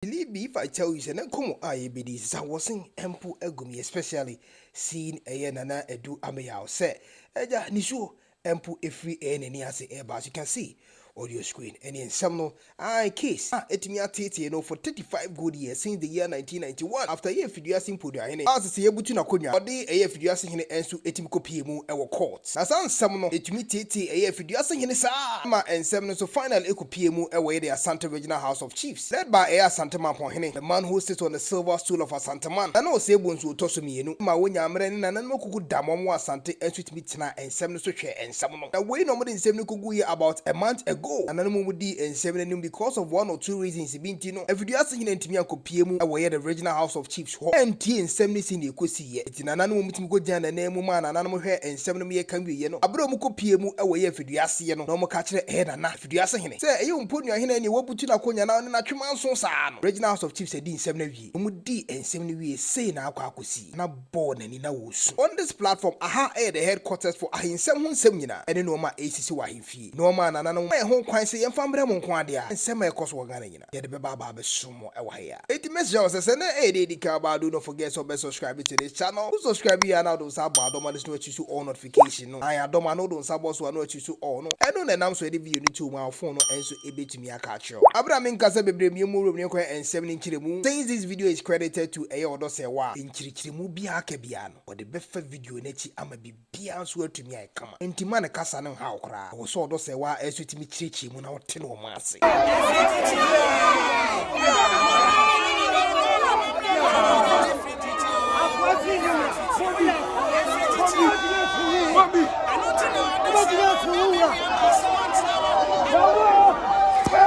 Believe me if I tell you sɛ na nkɔmmɔ a yɛbɛdi yi sesa wɔsen mpo agu me especially seeing ɛyɛ Nana Adu Ameyaw sɛ agya nisuo mpo ɛfiri ɛyɛ n'ani ase ɛreba as you can see audio screen ɛneɛ nsɛm no ae case a ɛtumi ateetee no for 35 good years since the year 1991 after ɛyɛ Afiduase Mpoduahene a sese yɛbutu n'akonnwa ɔde ɛyɛ Afiduase Hene nso ɛtumi kɔpie mu wɔ court na saa nsɛm no ɛtumi teetee ɛyɛ Afiduase Hene saa ma nsɛm no nso finally ɛkɔpie mu wɔ yɛde Asante Regional House of Chiefs Sɛ ba ɛyɛ Asanteman Pɔnhene, the man who sits on the silver stool of Asanteman, na na ɔsɛe bonsu ɔtɔ so mmienu, ma wɔnya mmerɛ ne nananom akuku da ma wɔwɔ Asante nso tumi tenaa nsɛm no so hwɛɛ nsɛm no. Na wei na wɔde nsɛm no kɔguiɛ about a month ago. Nananom mu dii nsɛm no anim because of one or two reasons bi nti no, Afiduasehene antumi ankɔpue mu wɔ ɛyɛ the regional house of chiefs hɔ antie nsɛm no sɛnea ɛkɔsiiɛ. Enti nananom tumi kɔgyinaa n'anan mu maa nananom hwɛɛ nsɛm no meyɛka wieɛ no, berɛ a wɔkɔpue mu wɔ ɛyɛ Afiduaseɛ no, na wɔka kyerɛɛ ɛyɛ Nana. Tuduase hene. Sɛ ɛyɛ Ompodua hene a ɛneɛ wabutu n'akonya na ɔne n'atwe manso saa no. Regional House of Chiefs adii nsɛm no awie. Wɔn dii nsɛm no wie sei na akɔ akɔsi. Nana bɔɔ n'ani na ɔresu. On this platform, aha yɛ the headquarters for ahensɛm ho nsɛm nyinaa ɛne nnoɔma a ɛresisi wɔ ahemfie. Nnoɔma a Nananom ma yɛn ho kwan sɛ yɛmfa mmrɛ mo nko adea nsɛm a ɛkɔ so wɔ Ghana nyinaa. yɛde bɛba aba abɛsom mo ɛwɔ ha yi a enti mɛsrɛ wo sɛ sɛ na ɛyɛ deɛ ɛdi kan ɔbaa don't forget sɛ ɔbɛ subscribe to this channel wo subscribe wie a na wode wo nsa abɔ adɔma no so na wa choose all notification no ae adɔma no wode wo nsa bɔ so a na wa choose all no ɛno na ɛnam so ɛde video no to wo mu a wo phone no nso ɛbɛtumi aka akyerɛ wo aberɛ a menkasa bebree mmiɛ mu wurom ne kwan ɛnsɛm ne nkyerɛmu since this video is credited to ɛyɛ ɔdɔ sɛ wɔ a nkyerɛkyerɛmu biara ka biara no wɔde bɛfa video no akyi ama biribi. biara nso atumi ayɛ kama. Enti mma ne kasa no nhaw wo koraa. Ɛwɔ sɛ ɔdɔ sɛe wo ara nso tumi kyerɛkyerɛ mu na wote ne ɔma ase.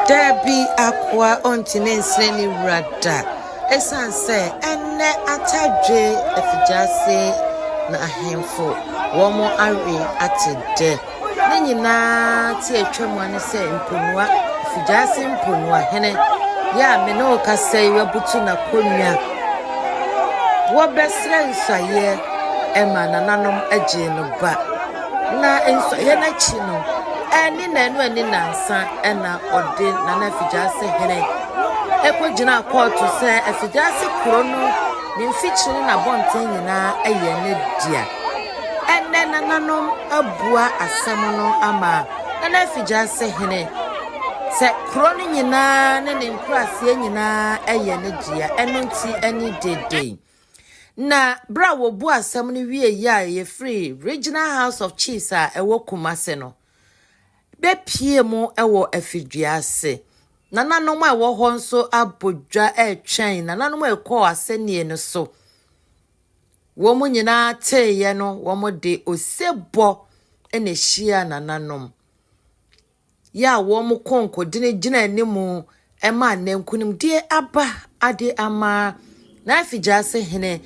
Dabi, akoa, ɔntene nsene ne wura da. Esiane sɛ ɛnnɛ atadwe afigyase na ahemfo wɔn awe ate dɛ, ne nyinaa te atwam a ne sɛ mponua, afigyase mponua hene yi a me ne wo kasa yi abutu n'akonnwa. Wɔbɛsrɛ nsɔeɛ ma nananom agyee no ba. Na nsɔeɛ no akyi no, ɛne na ɛno ani nansa na ɔde Nana Afigyase hene kogyinaa kɔɔto sɛ afiase kuro no, ne mfikyiri ne n'abɔnten nyinaa yɛ ne dea. Ɛnnɛ nananom abua asɛm no ama Nana Afigyase Hene sɛ kuro no nyinaa ne ne nkuraaseɛ nyinaa yɛ ne dea, ɛno nti ani dede. Na berɛ a wɔbu asɛm no wie yɛ a yɛfiri Regional House of Chiefs a ɛwɔ Kumase no, bɛpue mu wɔ afidwua ase. Nananom a ɛwɔ hɔ nso abɔ dwa retwɛn nananom a ɛkɔɔ asɛnnie no so. Wɔn nyinaa teeɛ no, wɔde osebɔ na ɛhyiaa nananom. Yɛ a wɔn kɔnkɔdini gyina anim ɛma nnɛ nkonimdie aba ade ama Nifegyaase hene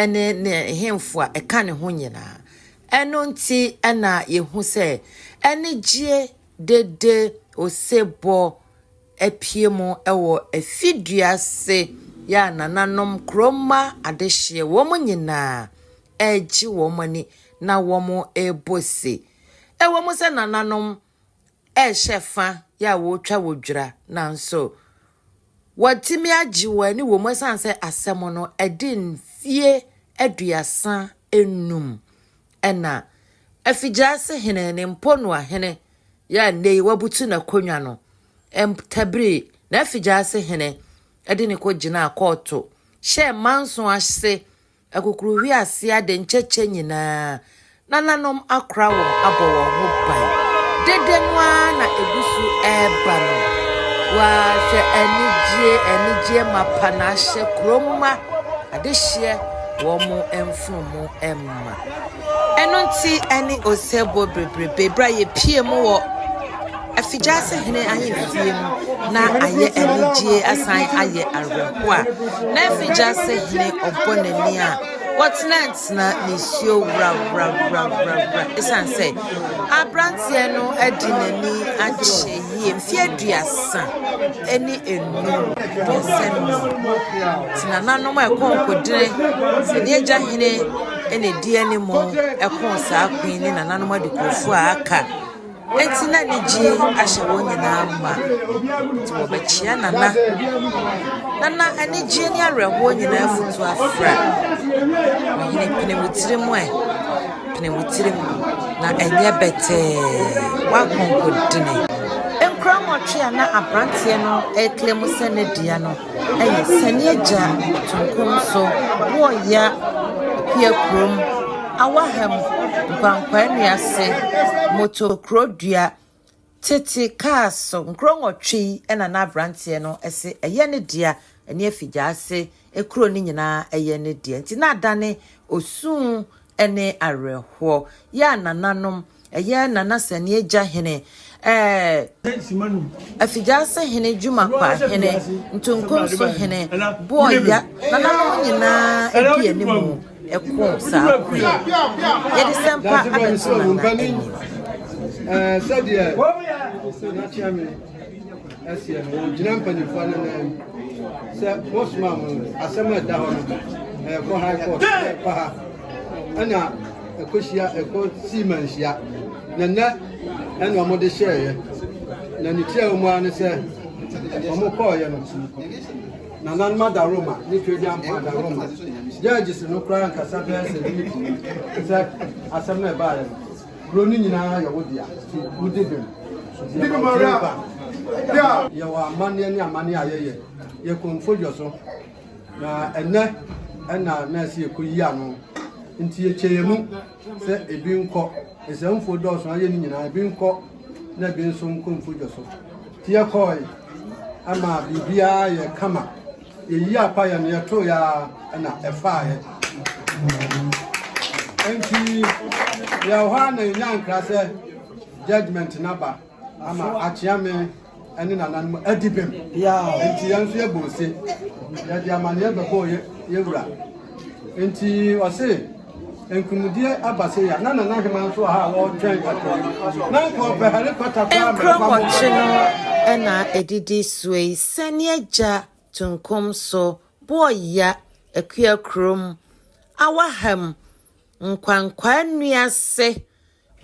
ne ne hemfo a ɛka ne ho nyinaa. Ɛno nti na yɛhu sɛ anigyeɛ dede osebɔ apue mu wɔ afidua ase yɛ a nananom kuromma adehyeɛ wɔn nyinaa regye wɔn ani na wɔrebɔ se. Ɛwɔ mu sɛ nananom rehyɛ fa yɛ a wɔretwa wɔ dwira nanso wɔatumi agye wɔn ani wɔ mu ɛsan sɛ asɛm no ɛde mfie aduasa enum ɛna afigyaase hene ne mponua hene yɛ a nnɛ yi wabutu n'akonnwa no ɛtabiri n'afigyaase hene ɛde ne kɔ gyinaa kɔɔto hyɛɛ manso ase Akokoruhwe ase ade nkyɛkyɛ nyinaa, nananom akora wɔn abɔ wɔn ho ban. Dede no ara na egu so reba no. Waa, hwɛ anigyeɛ, anigyeɛ mapa na ahyɛ kurom mma adehyeɛ wɔn mfunumu mma. Ɛno nti ɛne osebɔ bebrebe berɛ a yɛpie mu wɔ Afigyase Hene Ahemfie no na ayɛ anigyeɛ asan ayɛ awerɛhoɔ a na Afigyase Hene ɔbɔ n'ani a wɔtenatena nisuo wurawurawurawurawura ɛsiane sɛ aberanteɛ no adi n'ani akyɛ yie mfeɛ aduasa ne enum aduasa num nti nananom a ɛkɔɔ nkɔdene sɛ ne agya hene na ɛdi anim ɛkɔɔ saa queen ne nananom adekurofo a aka Enti na anigye ahyɛ wɔn nyinaa ma, enti wɔbɛkyea Nana, na na anigyeɛ ne awerɛhoɔ nyinaa afutu afra. Ɔhene pene wo tirim ɛ, pene wo tirim, na ɛnyɛ bɛtɛɛ, w'akonkodene. Nkura nwɔtwe a na aberanteɛ no reklemo sɛ ne dea no, Ɛyɛ sɛnea agya ɔtompo nso wɔ ya pia kurom awa ha mu nkwankwaa nnua ase moto kuro dua tete kaa so nkuro nwɔtwe yi na na abranteɛ no se ɛyɛ ne dea ɛne afigya ase kuro no nyinaa ɛyɛ ne dea nti na adane osuu ne awerɛhoɔ. Yɛ a nananom, ɛyɛ Nana Sɛneɛ Gyahene, ɛɛ Afigyaase Hene, Dwumakwa Hene, Ntonkonso Hene, Boɔya, nananom nyinaa ɛdi animu ɛko saa ko yi. Yɛde sɛmpa abɛto Nana anim. ɛseɛ no wɔgyina mpanimfoɔ no nan mu sɛ mosoma mo asɛm a ɛda hɔ no ɛkɔ high court ɛkɔ ha ɛna ɛkɔhyia ɛkɔ sii manhyia na nnɛ ɛna wɔde hyɛeɛ na ne tiaa mu ara ne sɛ wɔkɔɔeɛ no nananom adaroma ne twadian mpo adaroma judges no koraa nkasa bɛɛ sɛ ne sɛ asɛm no ɛbaeɛ no Kuro no nyinaa yɛ wo dea, nti wodi bem. Di bem ara! Di a! Yɛwɔ amanneɛ ne amanneɛ a yɛyɛ. Yɛkɔ mfodwo so, na ɛnnɛ na nɛɛse rekɔyi ano, nti yɛkyɛ yɛn mu sɛ ebi nkɔ. Nsɛmfo dɔɔso a yɛyɛ no nyinaa, ebi nkɔ na ebi nso nkɔ mfodwo so. Nti yɛkɔe ma biribiara yɛɛ kama. Yɛyii apa yɛ no yɛtoeɛ ara na ɛfaaeɛ. Enti yɛwɔ hɔ ara na yɛnya nkra sɛ judgement no aba ama akyea me ne nananom adi bem. Enti yɛn nso yɛbɔ ose, yɛde amanneɛ bɛbɔɔ yɛn wura. Enti ɔse. Nkomudeɛ aba sei a, na Nana Hemaa nso wɔ ha a ɔretwɛn kɔtɔ no. Na anka ɔpɛ helicopter koraa a mɛfa mo Nkurɔfo kye no kɔtɔ. na ɛdidi soɔ yi, sɛneɛ gya tunkum so boɔ ya akua kurom, awaham, nkwankwaa nnua se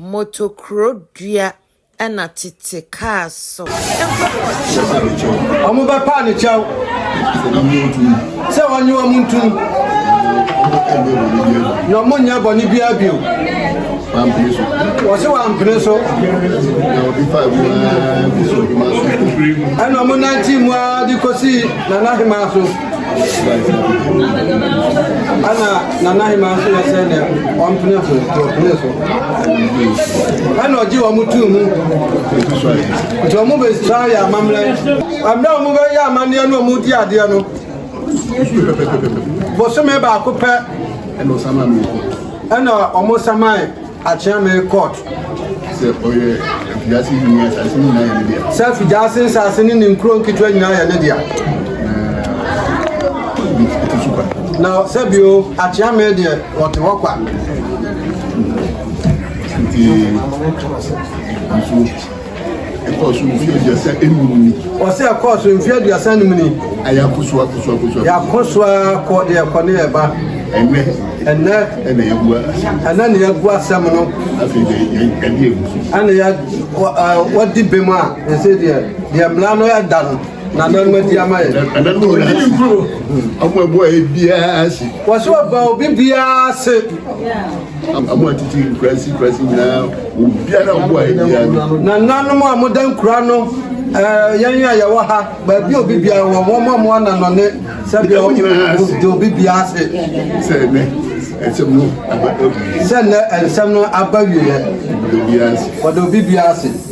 motokuro dua ɛna tete kaa so. Wɔn bɛpa ne kyɛw sɛ wɔnye wɔn ntum na wɔn nyɛ bɔne biara bio. Wɔsi wampene so. Ɛna wɔn nante mu ara de kosi nana hemaa so. ɛna nana hema nso yɛ sɛ nɛ ɔmpene so ɔpene so ɛna ɔgye wɔn tuu mu nti wɔn bɛsira yɛ amammerɛ ɛmmerɛ wɔn bɛyɛ amanneɛ no wɔn di adeɛ no bosome baako pɛ ɛna wɔn samae Akyea me court. Sɛ ɔyɛ afiase yi nyinaa asase no nyinaa yɛ ne dea. Sɛ afiase nsase ne ne nkuro nketewa nyinaa yɛ ne dea. Na sɛ bio akyea me deɛ wɔte hɔ kwa. Nti nso. Ɛkɔɔ so mfe aduasa anum ni. Ɔsɛ ɛkɔɔ so mfe aduasa anum ni. A yɛakɔ so akɔ so akɔ so. Yɛakɔ so akɔ de ɛkɔ ne ɛba. Ɛnɛ. Ɛnɛ. Ɛna yɛagu asɛm. Ɛnɛ na yɛagu asɛm no. Afei deɛ yɛadi egu so. Ɛna yɛ wɔdi bem a ɛsɛ deɛ deɛ mmara no ɛda no. Nananom adi ama yɛn. Nananom adi ne nkuro. Ɔmo ɛbɔ a ebiara ase. Wɔso ɔba obi biara ase. Ɔmo atiti nkurasi nkurasi nyinaa obiara ɔbɔ a ebiara. Nananom a mo da nkura no ɛɛ yɛn a yɛwɔ ha baabi obi biara wɔ wɔn a mo ananɔne sɛbi ɔmo de obi biara ase. Sɛ ɛnɛ ɛnsɛm no aba awie. Sɛ ɛnɛ ɛnsɛm no aba wie. Wɔde obi biara ase.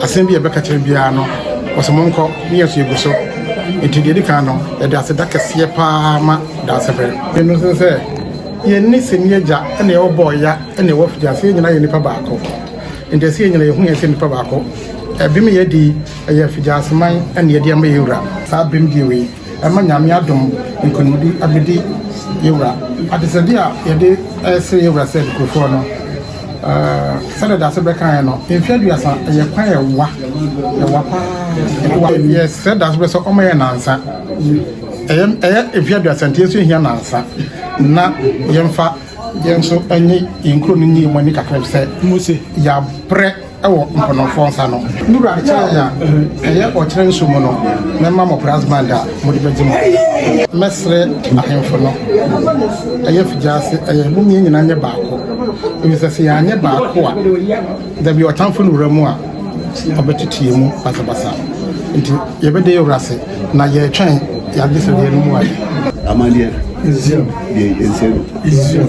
Asɛm bi a yɛbɛka kyerɛ biara no, wɔse monkɔ, ne yɛn nso yɛgu so. Enti deɛ ɛdi kan no, yɛde aseda kɛseɛ paa ma Dansefɛre. Ɛno nso ne sɛ, yɛn ne Sɛni Agya ne yɛwɔ Bɔɔya ne yɛwɔ Afigya, sɛ yɛn nyinaa yɛ nipa baako. Enti ɛsɛ yɛn nyinaa yɛhu yɛn sɛ nipa baako. Ɛbem a yɛadi yi, ɛyɛ Afigya Aseman na yɛde ama yɛn Wura. Saa bem die wei, ɛma Nyame adom nkonimdi abɛdi yɛn Wura. Adesrɛdeɛ a yɛde resrɛ yɛn Wura sɛ Dukurfoɔ no, Sɛdeɛ dase bɛkaeɛ no, mfeɛ aduasa yɛ kwan ɛwa, ɛwa paa. Yɛsrɛ dase bɛ sɛ ɔma yɛ nansa. Ɛyɛ ɛyɛ mfeɛ aduasa nti yɛnso yɛhia nansa na yɛmfa yɛnso ɛnye yɛn kuro no nye yɛn ani kakra sɛ yɛabrɛ. wɔ mpɔnɔnfoɔ nsa no. Me wura de kyɛrɛ yɛn a, ɛyɛ ɔkyerɛ nso mu no, mɛma mo brass band a mode bɛgye mo ho. Mɛsrɛ ahemfo no, ɛyɛ figyase, ɛyɛ mommiɛ nyina nyɛ baako, efisɛ sɛ yɛanyɛ baako a, dabi ɔtamfo no wura mu a, ɔbɛtete yɛn mu basabasa. Nti yɛbɛda yɛn wura ase, na yɛretwɛn yɛn agyesɛdeɛ no mu ade. Amanneɛ, Israel, deɛ yɛnsɛ no. Israel.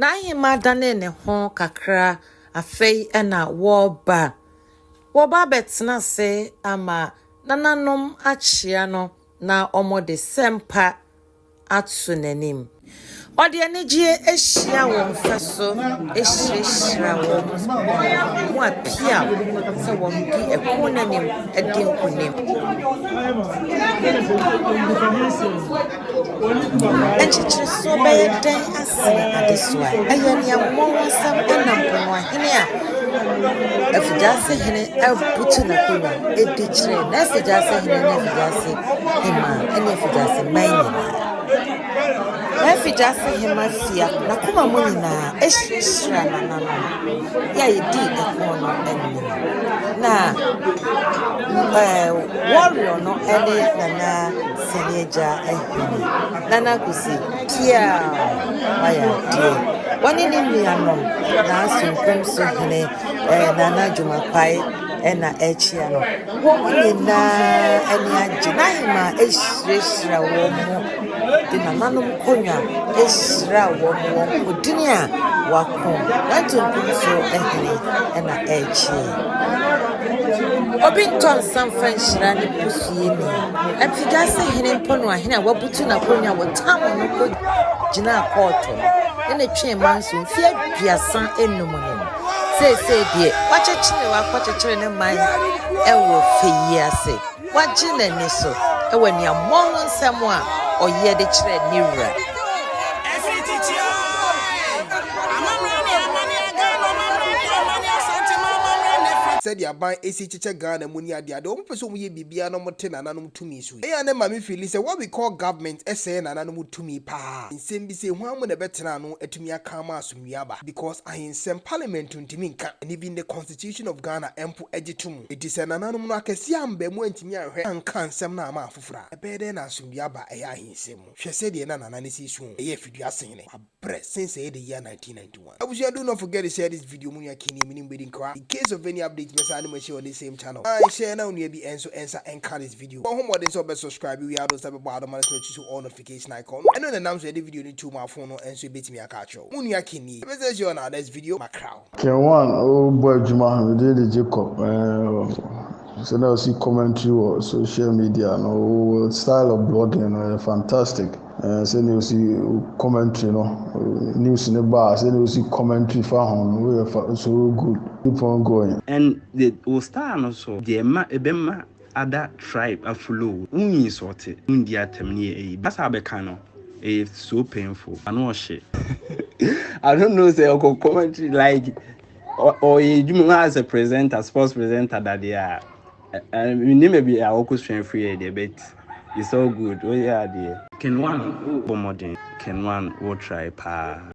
N'ahemmaa danee ne ho kakra, afei na wɔreba. Wɔba abɛtena ase ama nananom akyea no na wɔde sɛmpa. ato n'anim. Ɔde anigyeɛ hyia wɔn mfa so hyirahyira wɔn, wɔapiaw sɛ wɔmedi ɛko no anim adi nkonim. Nkyekyeresoɔ bɛyɛ dɛn asen adesoa? Ɛyɛ nea wɔwɔ wɔn nsam nam po no ahene a. Afigyase hene abutu n'akonnwa adi kyerɛ n'afigyase hene ne afigyase hemmaa ne afigyase mmaa nyinaa. N'afigyase hemmaa fia n'akoma mu nyinaa ahyirahyira n'ananom yɛ a yɛdi ɛko no anim. Na ɛɛ warrior no ne Nana Sani Agya Ahene, Nana Kwesi. Teaam! Wayɛ adeɛ. Wɔne ne nuanom, Naaso Mfomso Hene, eh, Nana Juma Kwae ɛna ɛrekyea no. Wɔn nyinaa ani agye. N'ahemaa ahyirahyira wɔn de nananom konwa ahyira wɔn wɔ nkodini a wɔako. Nanto Mfomso Hene ɛna ɛrekyea. Obi ntɔ nsa mfa nhyira ne busuani. Mfidwase Hene Mponoahene a wabu Ɔgye n'akonnwa wɔ tam no kɔ gyinaa kɔɔto no ne twe ma nso mfeɛ aduasa enum no mu. Seesei deɛ wakyekyere wakɔkyekyere ne man wɔ fɛ yi ase. Wagye n'ani so wɔ nea mmɔɔ ho nsɛm a ɔyɛ de kyerɛ ne wura. Ɛfiri tete ara, amammerɛ ne amanneɛ a Ghana amammerɛ ne amanneɛ Asantema amammerɛ na ɛfiri. Sɛdeɛ aban si kyekyɛ Ghana mu ne adeade, wɔpɛ sɛ wɔyɛ biribiara na wɔte nananom. tumi so yi. Eyi a na ɛma me fiili sɛ what we call government sɛɛ nananom tumi paa. Nsɛm bi sɛ hwan mu na ɛbɛtena ano atumi aka ama asomdwie aba because ahensɛm parliament ntumi nka and even the constitution of Ghana mpo gye to mu. Enti sɛ nananom no akɛseɛ ammba mu antumi anhwɛ anka nsɛm no amma afoforɔ a ɛbɛyɛ dɛn na asomdwie aba ɛyɛ ahensɛm mu? Hwɛ sɛdeɛ na Nana no si suo o, ɛyɛ afidua sene ne. Press since ɛyɛ the year 1991. Abusua do not forget to share this video mo nua Kenny me ne mo bɛdi nkra in case of any update mɛsan ne mo ahyia on this same channel an share na onua bi nso nsa nka this video bɔ ho mmɔden sɛ ɔbɛ subscribe wia do nsa bɛbɔ adoma no so na ɔtusu all notification icon no ɛno na ɛnam so yɛde video no to mo afon no nso ɛbɛtumi aka akyerɛ wo mo nua Kenny ɛbɛsan ahyia on our next video ma kra. Kerwin rebɔ adwuma ho, ne din de Jacob. Sɛ na ɔsi commentary wɔ social media no, wɔ style of blogging no yɛ fantastic. Sɛ na ɔsi commentary no, news no ba a, sɛ na ɔsi commentary fa ho no, woyɛ fa so good. Keep on going. And the wo style no so deɛ ɛma ɛbɛma ada tribe afuloo wo insɔɔte wo ndi atɛm ne yɛ ayi basa bɛka no ɛyɛ so painful ano ɔhye I don't know sɛ ɔkɔ commentary like ɔyɛ adwuma mu as a presenter sports presenter dadeɛ a menim baabi a ɔkɔ sua firi yɛ deɛ but it's all good woyɛ adeɛ. Ken one wo bɔ mmɔden. Ken one wo try paa.